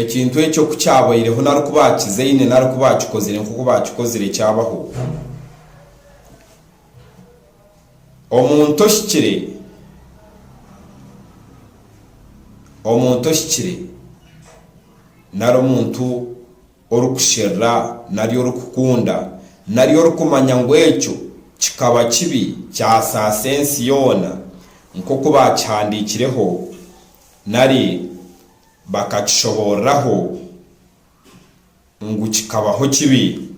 Ekintu ekyo ku kyabaireho nari ku baakizaine nari ku baakikozire nk'oku baakikozire kyabaho, omuntu ohikire, omuntu ohikire nari omuntu orikusherura nari orikukunda nari orikumanya ngu ekyo kikaba kibi kyasaasa ensi yoona nk'oku baakihandiikireho nari Bakakishoboorraho ngu kikabaho kibi,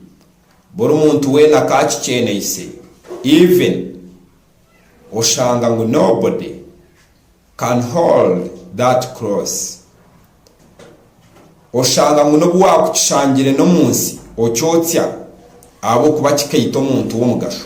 buri muntu weena akaakikyeneise, even oshanga ngu nobody can hold that cross. Oshanga ngu n'obu waakukishangire n'omu nsi okyotsya ahabw'okuba kikaita omuntu w'omugasho.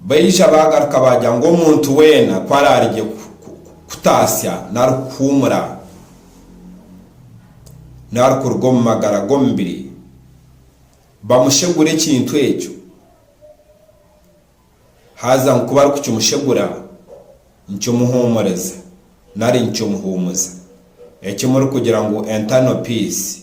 Baija baagaruka baagira ngu omuntu weena ku araari gye kutaasya nari kuhuumura nari kuruga omu magara g'omubiri, bamushegure ekintu ekyo, haza ngu ku barikukimushegura nikimuhuumuriza nari nikimuhuumuza. Eki murikugira ngu Internal Peace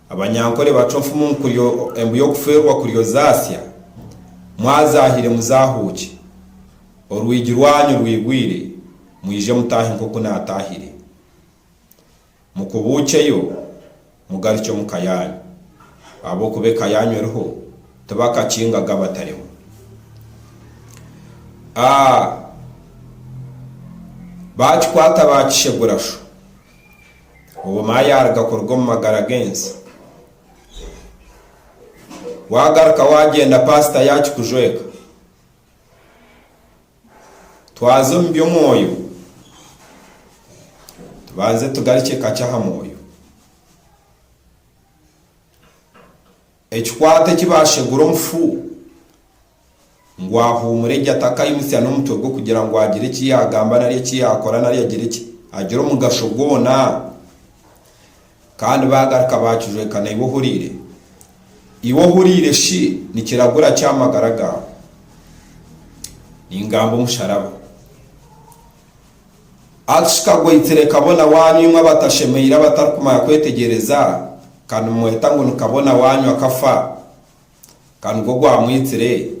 Abanyankole bacwa enfumu ngu kuryo embu y'okufeerwa kuryo zaasya, mwazaahire muzaahuukye, orwigi rwanyu rwigwire mwije mutaahe nk'oku naataahire. Mukubuukyeyo mugarukye omu ka yaanyu, ahabw'okuba eka yaanyu eriho, tibakakingaga abatarimu. A Baakikwata baakishegura sho. Obumwe ayaruga kuruga omu magara g'ensi. Wagaruka wagenda pastor yakikujweka. Twaza omu by'omwoyo tubanze tugarukye kakye aha mwoyo. Ekikwate eki bashegura omufu ngu ahuumure gye atakaimutsya n'omutwe gwe kugira ngu agire eki yaagamba nari eki yaakora nari agire ki, agire omugasho gwona. Kandi baagaruka baakijweka naiwe ohuriire. Iwe ohuriire shi nikiragura ki aha magara gaawe? Ningamba omusharaba. Akishika gwaitsire kabona waanyu imwe abatashemeire abatarikumanya kwetegyereza, ka nimumweta ngu ni kabona waanyu akafa. Ka nigwo gwamwitsire,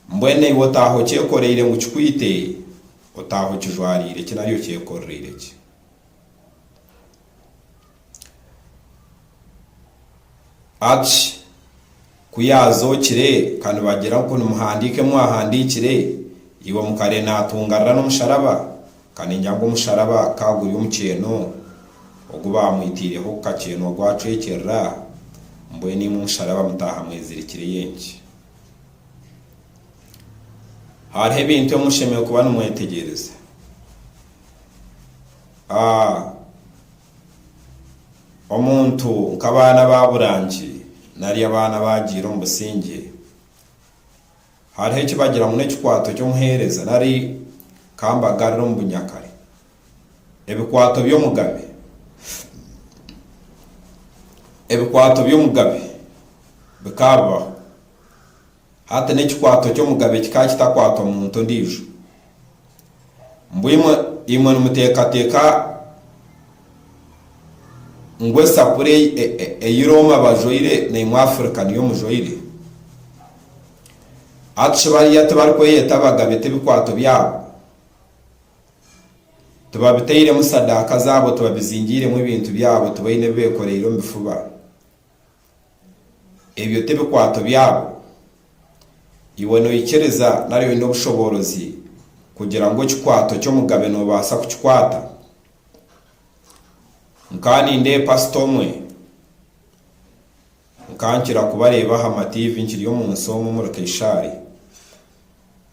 mbwenu iwe otaaha okyekoreire ngu kikwite, otaaha okijwariire ki nari okyekoreraire ki? Ach, Ku yaazookire, ka nibagira ngu nimuhandiika ebi mwahandiikire, iwe mukarere naatungarira n'omusharaba? Kandi engira ngu omusharaba ka guri omukyeeno ogu baamwitaireho ku kakyeeno gwacwekyerera, mbwenu imwe omusharaba mutaaha mwezirikireyo enki? Hariho ebintu ebi mushemereire kuba nimwetegyereza. A Omuntu nk'abaana baabura nki nari abaana baagiira omu busingye? Hariho eki bagira ngu n'ekikwato ky'omuheereza nari ka mbagarire omu bunyakare, ebikwato by'omugabe. Ebikwato by'omugabe bikaba bibaho. Hati n'ekikwato ky'omugabe kikaba kitakwatwa muntu ondiijo. Mbwenu imwe, imwe nimuteekateeka ngu esapuri ei, e, e, ei Rooma bajwaire naimwe Afirika niyo mujwaire? Hati shi bariya tibarikweyeta abagabe t'ebikwato byabo tibabitairemu sadaaka zaabo, tibabizingiiremu ebintu byabo, tibaine ebi beekoreire omu bifuba? Ebyo tibikwato byabo. Iwe noikiriza nari oine obushoboorozi kugira ngu ekikwato ky'omugabe nobaasa kukikwata? Nkaba nindeeba pasita omwe, nkaba nkira kubareeba aha matiivi nkiri omu nsi omu omuri Kaishaari.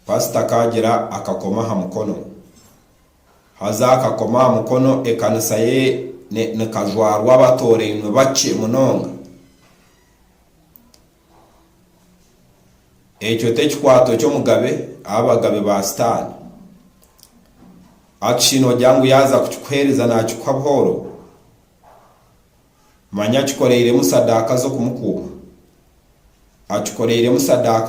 Pasita akaagira akakomo aha mukono. Haza akakoma aha mukono ekanisa ye ne nikajwarwa abatoorainwe bakye munonga. Ekyo t'ekikwato ky'omugabe abagabe ba sitaani. Akshi nogira ngu yaaza kukikuheereza naakikuha buhooro? Manya akikoreiremu sadaaka z'okumukuuma. Akikoreiremu sadaaka.